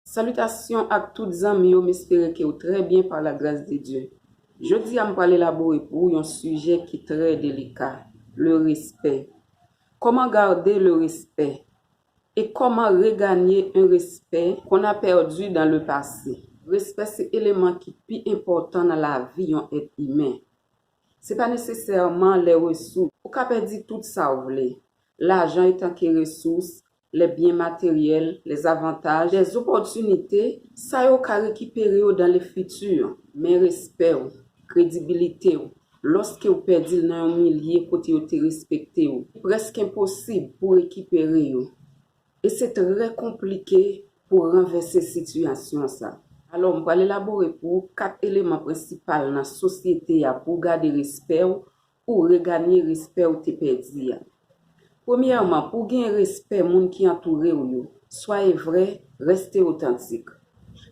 Salitasyon ak tout zanmi yo m espere ke w trè byen par la gras de Dye. Jodi a m pral elabore pou w yon sijè ki trè delika, le respè. Koman garde le respect? E koman reganye un respect qu'on a perdu dans le passé? Respè se eleman ki pi enpòtan nan lavi yon èt imen. Se pa nesesèman lè resous. Ou ka pèdi tout sa w vle. Lajan etanke resous, lè byen materyèl, lè avantaj, lè zopòtinite, sa yo ka rekipere yo dan le fiti, men respè ou, kredibilite ou, lòske ou pèdi l nan yon milye kote yo te respekte ou, li prèske enposib pou rekipere yo, e se trè konplike pou ranvèse sitiyasyon sa. Alò, m pral elabore pou ou kat eleman prensipal nan sosyete a pou w gade respè ou, pou w reganye respè w te pèdi a. Premyèman, pou w gen respè moun ki antoure w yo, swaye vrè, reste otantik.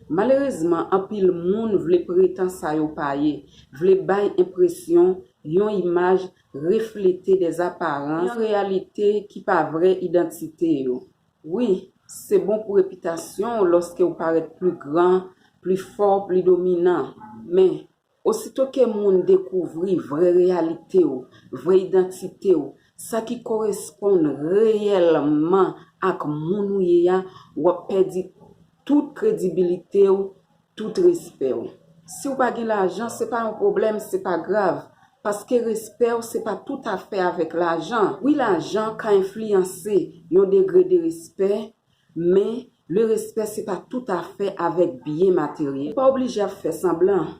Malerezman, anpil moun vle pretan sa yo pa ye, vle bay enpresyon, yon imaj, reflete des apparences, yon reyalite ki pa vrè idantite yo. Wi, se bon pou repitasyon w lòske w parèt pli gran, pli fò, pli dominan. Men, Osito ke moun dekouvri vrè reyalite ou, vrè idantite ou, sa ki koresponn reyèlman ak moun ou ye a, w ap pèdi tout kredibilite ou, tout respè ou. Si w pa gen lajan, se pa yon pwoblèm, se pa grav, paske respè ou se pa toutafè avèk lajan. Wi lajan ka enfliyanse yon degre de respè Men, le respè se pa tout afè avèk byen materyèl. Ou pa oblije ap fè sanblan.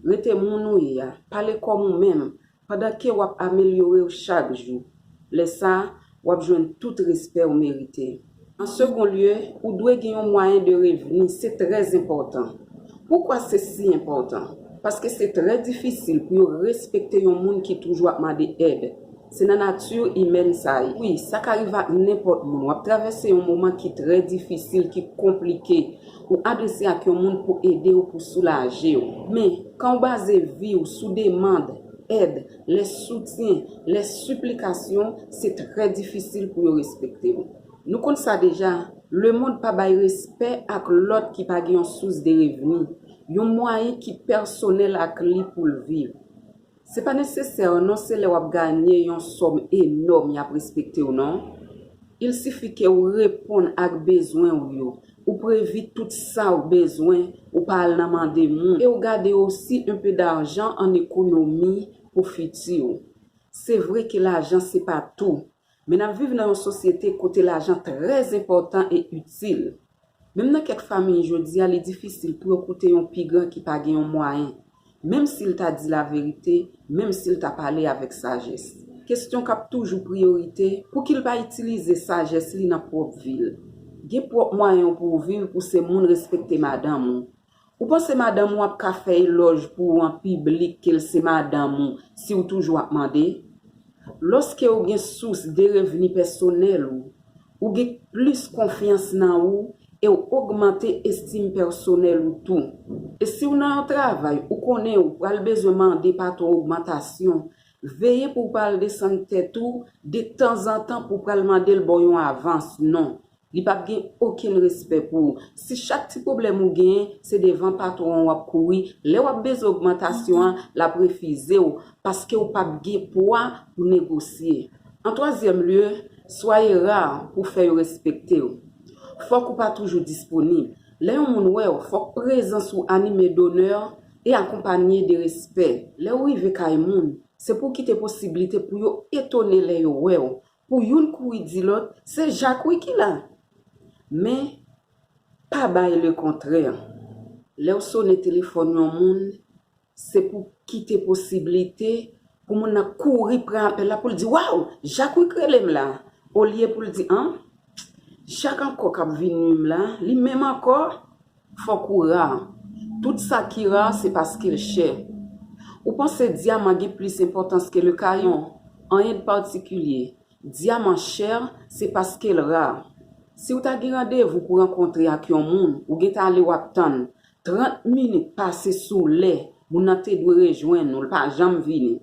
Rete moun ou ye a. Pale kòm ou menm, pandan ke w ap amelyore w chak jou. Lè sa, w ap jwenn tout respè ou merite. An segon lye, ou dwe gen yon mwayen de revni. Se trè enpòtan. Poukwa se si enpòtan? Paske se trè difisil pou yo respekte yon moun ki toujou ap mande èd. Se nan nati imèn sa ye. Wi, sa ka rive ak nenpòt moun. Wap travèse yon moman ki trè difisil, ki konplike. Ou adrese ak yon moun pou ede w, pou soulaje w. Men, kan w baze vi w sou demand, èd, lès soutyen, lès siplikasyon, se trè difisil pou yo respekte w. Nou konn sa deja, lemond pa bay respè ak lòt ki pa gen yon sous de revni, yon mwayen ki pèsonèl ak li pou l viv. Se pa nesesè non se lè wap ganye yon sòm enòm yap respektew non. Il sifi ke ou reponn ak bezwen ou yo, ou previ tout sa ou bezwen, ou pa al nan mande moun e ou gade osi un peu d'argent en économie pou fiti ou. Se vre ke lajan se pa tou, Men n ap viv nan yon sosyete kote lajan trè enpòtan e itil. Menm nan kèk famiy jodi a li difisil pou yo koute yon pi gran ki pa gen yon mwayen, menm si l ta di laverite, menm si l ta pale avèk sajès. Kesyon k ap toujou priyorite, pou ki l pa itilize sajès li nan pwòp vi l? Gen pwòp mwayen w pou w viv pou se moun respekte madanm ou, Ou panse madanm ou ap ka fè elòj pou ou an piblik ke l se madanm ou si ou toujou ap mande? Lòske ou gen sous de revni pèsonèl ou, ou gen plis konfyans nan ou e w ogmante estim pèsonèl ou tou. E si w nan yon travay ou konnen ou pral bezwen mande patwon ogmantasyon, veye pou w pa al desann tèt ou de tanzantan pou w pral mande l ba w yon avans, non. Li pap gen okenn respè pou ou. Si chak ti pwoblèm ou genyen, se devan patwon an w ap kouri, lè w ap bezwen ogmantasyon an, l ap refize w, paske ou pap gen pwa pou negosye. An twazyèm lye, swaye ra pou w fè yo respekte w. Fòk ou pa toujou disponib. Lè yon moun wè w, fòk prezans ou anime donè e akonpanye de respè. Lè ou rive kay moun, se pou w kite posiblite pou yo etone lè yo wè w, Pou youn kouri di lòt, se Jak wi ki la! Men, pa bay lekontrè. Lè w sone telefòn yon moun, se pou w kite posiblite pou moun nan kouri pran apèl la pou l di, Waw! Jak wi k rele m la! Olye pou l di, An! Jak ankò k ap vin nui m la, li menm ankò! Fòk ou ra. Tout sa ki ra se paske l chè. Ou panse dyaman gen plis enpòtans ke lekayon? Anyen de patikilye. Dyaman chè se paske l ra. Si w ta gen randevou pou rankontre ak yon moun, ou gentan ale w ap tann 30 minit pase sou lè moun nan te dwe rejwenn ou, l pa janm vini.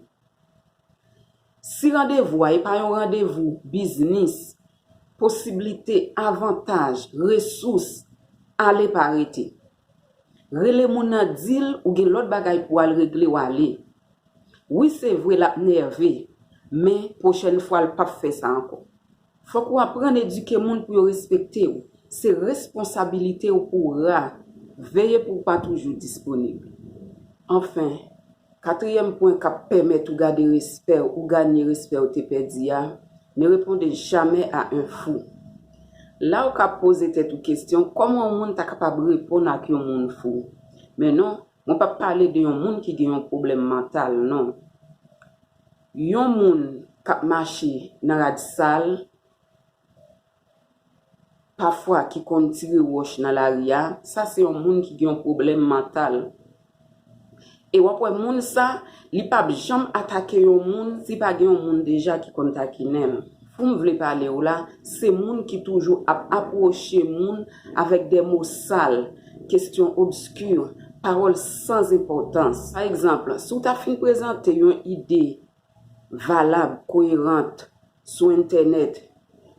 Si randevou a e pa yon randevou biznis, Posiblite, avantaj, resous, ale pa rete. Rele moun nan di l ou gen lòt bagay pou al regle w ale. Wi se vre l ap nève, men pwochèn fwa l pap fè sa ankò. Fòk ou aprann edike moun pou yo respekte w, se responsabilite w pou w ra, veye pou w pa toujou disponib. Anfen. Katriyèm pwen k ap pèmèt ou gade respè ou ganye respè ou te pèdi a, Ne répondez jamais à un fou. La ou ka poze tèt ou kesyon kòman yon moun ta kapab reponn ak yon moun fou. Men non, mwen p ap pale de yon moun ki gen yon pwoblèm mantal non. Yon moun k ap mache nan rad sal. pafwa ki konn tire wòch nan lari a, sa se yon moun ki gen yon pwoblèm mantal. E w ap wè moun sa, li pap janm atake yon moun si pa gen yon moun deja ki konn takinen l. Pou m vle pale w la, se moun ki toujou ap apwoche moun avèk de mo sal, kesyon obski, pawòl san enpòtans. Pa egzanp, si w ta fin prezante yon ide Valab, koyerant, sou entènèt.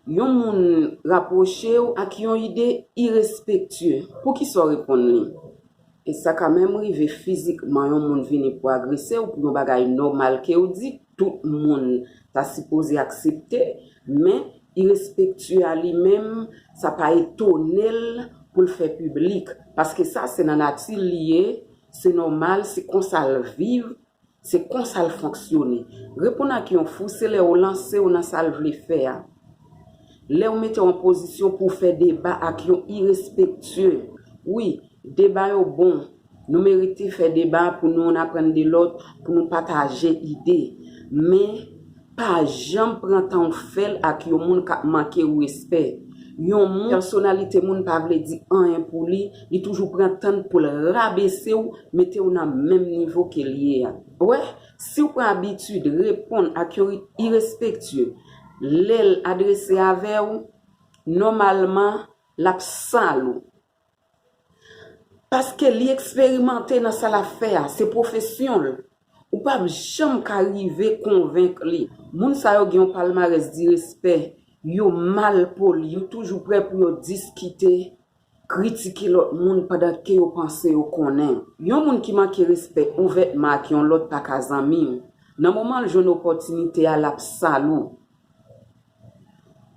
Yon moun rapwoche w ak yon ide irespektye, poukisa w reponn li? E sa ka menm rive fizikman yon moun vini pou agrese w pou yon bagay nòmal ke w di, tout moun ta sipoze aksepte, men irespektye a li menm sa pa etone l pou l fè piblik, paske sa se nan nati l li ye, se nòmal, se konsa l viv, Se konsa l fonksyone. Reponn ak yon fou se lè ou lanse w nan sa l vle fè a. Lè ou mete w an pozisyon pou w fè deba ak yon irespektye. Wi, deba yo bon. Nou merite fè deba pou nou youn aprann de lòt, pou nou pataje ide. Men, Pa janm pran tan w fè l ak yon moun k ap manke w respè. Yon moun, pèsonalite moun pa vle di anyen pou li, li toujou pran tan l pou l rabese w, mete w nan menm nivo ke l ye a. Wè, si w pran abitid reponn ak yon rit irespektye lè l adrese avè w, nòmalman l ap sal ou. Paske li eksperimante nan sa l ap fè a, se pwofesyon l. Ou pap janm ka rive konvenk li. Moun sa yo gen yon palmarès di respè, yo mal poli, yo toujou prè pou yo diskite, kritike lòt moun pandan ke yo panse yo konnen. Yon moun ki manke respè ouvètman ak yon lòt pa ka zanmi w. Nan moman l jwenn opòtinite a, l ap sal ou.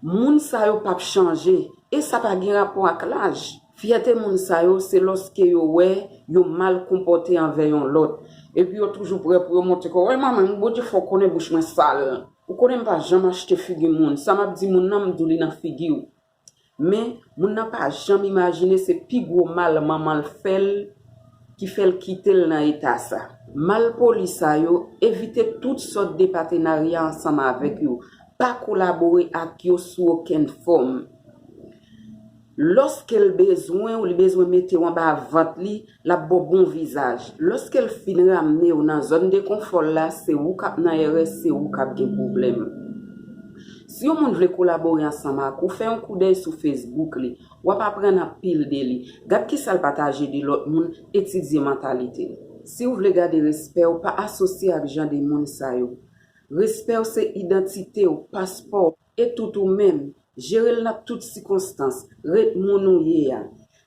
Moun sa yo pap chanje, e sa pa gen rapò ak laj. Fyète moun sa yo se lòske yo wè yo mal konpòte anvè yon lòt, epi yo toujou prè pou yo montre kò, wè manman m, Bondye fè w konnen bouch mwen sal. Ou konnen m pa janm achte figi moun, sa m ap di moun nan m di w li nan figi w. Men, moun nan pa janm imajine se pi gwo mal manman l fè l ki fè l kite l nan eta sa. Malpoli sa yo, evite tout sòt de patenarya ansanm avèk yo. Pa kolabore ak yo sou okenn fòm. Lòske l bezwen w, li bezwen mete w anba vant li, L ap ba w bon vizaj. Lòske l fin ramne w nan zòn de konfò l la, se ou k ap nan erè, se ou k ap gen pwoblèm. Si yon moun vle kolabore ansanm ak ou, fè yon koudèy sou Facebook li. W ap aprann anpil de li. Gad kisa l pataje de lòt moun, etidye mantalite l. Si w vle gade respè w, pa asosye ak jan de moun sa yo. Respè w se idantite w, paspò w. E tout ou menm, jere l nan tout sikonstans, ret moun ou ye a.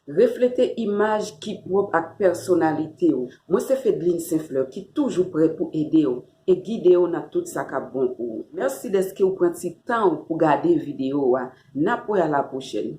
Reflete imaj ki pwòp ak pèsonalite w. Mwen se Fedline St. Fleur ki toujou prè pou ede w e gide w nan tout sa k ap bon pou ou. Mèsi dèske ou pran ti tan ou pou gade videyo a. N ap wè a lapwochèn.